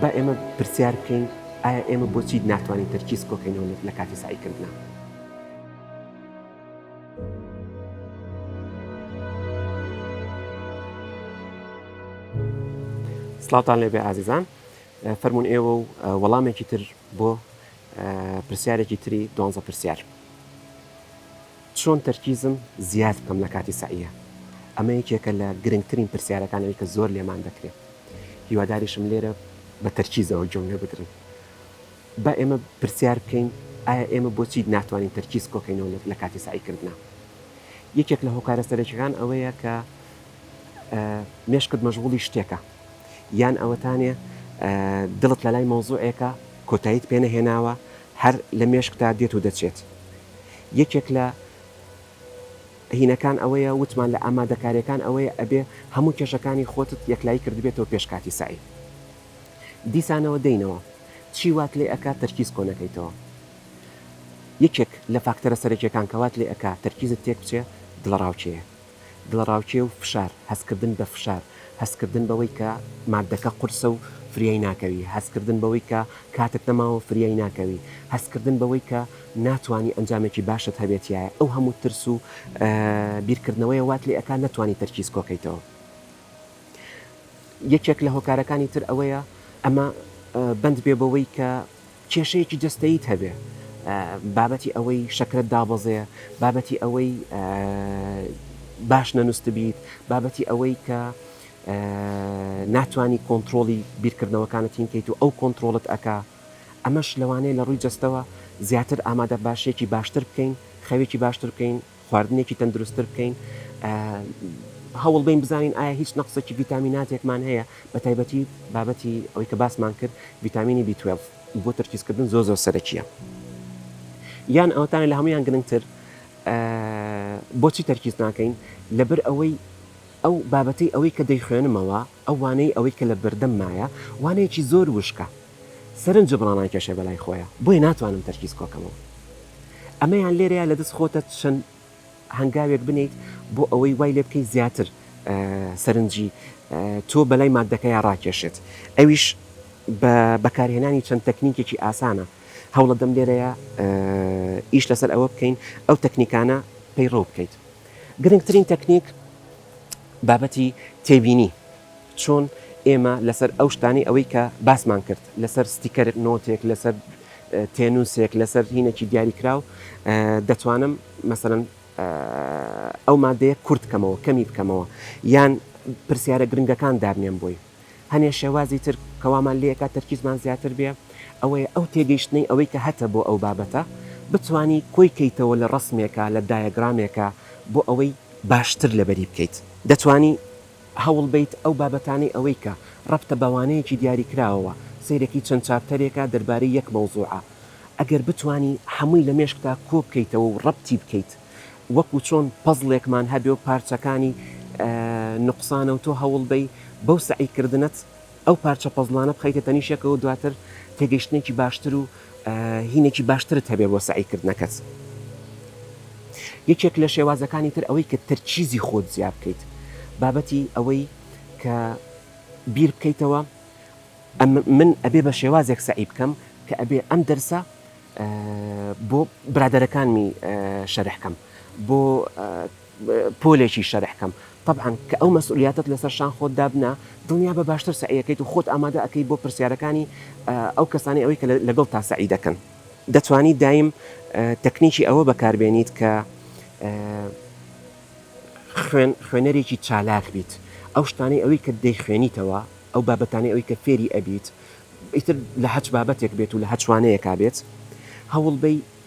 با ئێمە پرسیار بکەین ئایا ئێمە بۆچی ناتوانین تەرکیز کۆکەینەوە لە کاتی سعیکردنا سلااوان لێبێ ئازیزان فەرمونون ئێوە و وەڵامێکی تر بۆ پرسیارێکی تری دوانزە پرسیار چۆن تەرکیزم زیاد بکەم لە کاتی سەعیە ئەمە یەکێکە لە گرنگترین پرسیارەکان ئەوی کە زۆر لێمان دەکرێت هیواداریشم لێرە بە تەرکیزەوە گوێم لێ بگرن با ئێمە پرسیار بکەین ئایا ئێمە بۆچی ناتوانین تەرکیز کۆکەینەوە لە کاتی سعیکردنا یەکێک لە هۆکارە سەرەکیەکان ئەوەیە کە مێشکت مەژغوڵی شتێکە یان ئەوەتانێ دڵت لەلای مەوزوعێکە کۆتاییت پێ نەهێناوە هەر لە مێشکتا دێت و دەچێت یەکێک لە هینەکان ئەوەیە وتمان لە ئامادەکاریەکان ئەوەیە ئەبێ هەموو کێشەکانی خۆتت یەکلایی کردبێتەوە پێش کاتی سەعی دیسانەوە دەینەوە چی وات لێ ئەکات تەرکیز کۆنەکەیتەوە یەکێک لە فاکتەرە سەرەکیەکان کەوات لێ ئەک تەرکیزت تێک بچێ دڵەڕاوکێ دڵەڕاوکێ و فشار، هەستکردن بە فشار، هەستکردن بەوەی کە ماددەکە قورسە و فریای ناکەوی، هەستکردن بەوەی کە کاتت نەماوە و فریای ناکەوی، هەستکردن بەوەی کە ناتوانی ئەنجامێکی باشت هەبێتیایە، ئەو هەموو ترس و بیرکردنەوەیە وات لێ ئەکا نەتوانی تەرکیز کۆکەیتەوە. یەکێک لە هۆکارەکانی تر ئەوەیە ئەمە بەند بێ بەوەی کە کێشەیەکی جەستەییت هەبێ، بابەتی ئەوەی شەکرەت دابەزێ، بابەتی ئەوەی باش نەنوستبیت، بابەتی ئەوەی کە ناتوانی کۆنتڕۆڵی بیرکردنەوەکانت هین کەیت و ئەو کۆنتڕۆڵت ئەکا، ئەمەش لەوانەیە لە ڕووی جەستەوە زیاتر ئامادە باشییەکی باشتر بکەین، خەوێکی باشتر بکەین، خواردنێکی تەندروستتر بکەین هەوڵ بین بزانین ئایا هیچ نەقسێکی ڤیتامیناتێکمان هەیە بە تایبەتی بابەتی ئەوی کە باسمان کرد ڤیتامینی B12 بۆ تەرکیزکردن زۆ زۆر سەرەکیە یان ئەوتانە لە هەمویان گرنگتر بۆچی تەرکیز ناکەین لەبەر ئەوەی ئەو بابەتی ئەوەی کە دەیخوێنمەوە ئەو وانەی ئەوەی کە لە بەردەم مایە وانەیەکی زۆر وشکە سەرنج جبرانان کێشەی بەلای خۆیە بۆیە ناتوانم تەرکیز کۆکەمەوە ئەمەیان لێرەیە لەدەست خۆتە چەند هەنگاوێک بنێیت بۆ ئەوەی وای لێ بکەیت زیاتر سەرنجی تۆ بەلای مادەکەیا ڕاکێشێت ئەویش بە بەکارهێنانی چەند تەکنیکێکی ئاسانە هەوڵەدەم لێرەیە ئیش لەسەر ئەوە بکەین ئەو تەکنیکانە پەیڕەو بکەیت گرنگترین تەکنیک بابەتی تێبینی چۆن ئێمە لەسەر ئەو شتانەی ئەوەی کە باسمان کرد لەسەر ستیکەرێک نۆتێک لەسەر تێنووسێک لەسەر هینێکی دیاریکراو دەتوانم مەسەرەن ئەو مادەیە کورت بکەمەوە کەمی بکەمەوە یان پرسیارە گرنگەکان دابنێم بۆی هەنێ شێوازی تر کەوامان لەکە تەرکیزمان زیاتر بێ ئەوەیە ئەو تێگەیشتنەی ئەوەی کە هەتە بۆ ئەو بابەتە بتانی کۆی کەیتەوە لە ڕسمێکە لە دایەگرامێکە بۆ ئەوەی باشتر لەبەری بکەیت دەتانی هەوڵبەیت ئەو بابەتانەی ئەوەی کە ڕەبتە بەوانەیەکی دیاریکراوەوە، سەیرێکی چەند چاپتەرێکە دەربارەی یەک مەوزوعە، ئەگەر بتوانی هەمووی لە مێشکتا کۆبکەیتەوە و ڕەبتی بکەیت، وەکو چۆن پەزڵێکمان هەبێ و پارچەکانی نوقسانە و تۆ هەوڵبەی بەو سەعیکردنەت ئەو پارچە پەزڵانە بخەیتە تەنیشەکەوە دواتر تێگەشتنێکی باشتر و هینێکی باشترت هەبێ بۆ سەعیکردنەکەت یەکێک لە شێوازەکانی تر ئەوەی کە تەرچیزی خۆت زیاب بکەیت بابەتی ئەوەی کە بیر بکەیتەوە من ئەبێ بە شێوازێک سەعی بکەم کە ئەبێ ئەم دەرسە بۆ برادەرەکانمی شەرحکەم بۆ پۆلێکی شەرح کەم تەبعەن کە ئەو مەسئولیاتەت لەسەر شان خۆت دابنا دڵنیابە باشتر سەعی ئەکەیت و خۆت ئامادە ئەکەیت بۆ پرسیارەکانی ئەو کەسانەی ئەوەی کە لەگەڵتا سەعی دەکەن دەتوانیت دایم تەکنیکی ئەوە بەکار بێنیت کە خوێنەرێکی چالاک بیت ئەو شتانەی ئەوەی کە دەیخوێنیتەوە ئەو بابەتانەی ئەوەی کە فێری ئەبیت ئیتر لە هەچ بابەتێک بێت و لە هەچ وانەیەکا بێت هەوڵبەی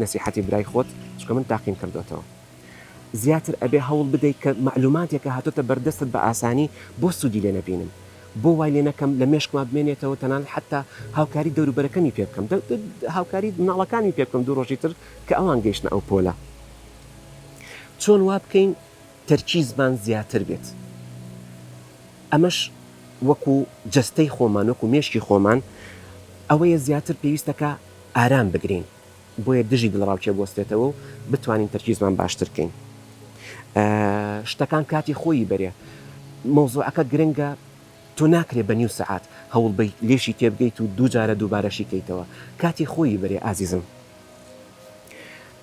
نەسیحەتی برای خۆت چونکە من تاقیم کردۆتەوە زیاتر ئەبێ هەوڵ بدەیت کە مەعلوماتێکە هاتۆتە بەردەستت بە ئاسانی بۆ سوودی لێ نەبینم بۆ وای لێ نەکەم لە مێشکما بمێنێتەوە تەنانەت حتا هاوکاری دەوروبەرەکەمی پێ بکەم هاوکاری مناڵەکانمی پێ بکەم دوو ڕۆژی تر کە ئەوان گەیشتە ئەو پۆلە چۆن وا بکەین تەرکیزمان زیاتر بێت ئەمەش وەکو جەستەی خۆمان وەکو مێشکی خۆمان ئەوەیە زیاتر پێویستەکە ئارام بگرین بۆیە دژی دڵەڕاوکێ بوەستێتەوە و بتوانین تەرکیزمان باشتر بکەین شتەکان کاتی خۆیی بەرێ مەوزوعەکە گرنگە تۆ ناکرێ بە نیو سەعات هەوڵ بی لێشی تێبگەیت و دوو جارە دووبارەشی کەیتەوە کاتی خۆیی بەرێ ئازیزم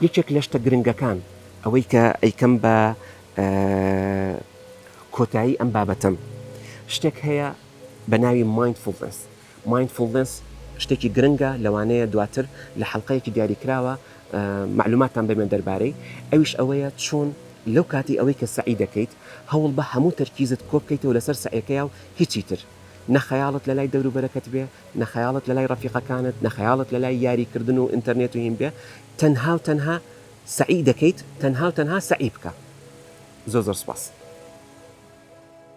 یەکێک لە شتە گرنگەکان ئەوەی کە ئەیکەم بە کۆتایی ئەم بابەتەم شتێک هەیە بە ناوی مایندفولنس مایندفوڵنەس شتێکی گرنگە لەوانەیە دواتر لە حەڵقەیەکی دیاریکراوە مەعلوماتتان بەمێ دەربارەی ئەویش ئەوەیە چۆن لەو کاتی ئەوەی کە سەعی دەکەیت هەوڵبە هەموو تەرکیزت کۆبکەیتەوە لەسەر سەعیەکەیاو هیچی تر نە خەیاڵت لەلای دەوروبەرەکەت بێ نە خەیاڵت لەلای ڕەفیقەکانت نە خەیاڵت لەلای یاری کردن و ئینتەرنێت و هین بێ تەنهاو تەنها سەعی دەکەیت تەنهاو تەنها سەعی بکە زۆر زۆر سوپاس.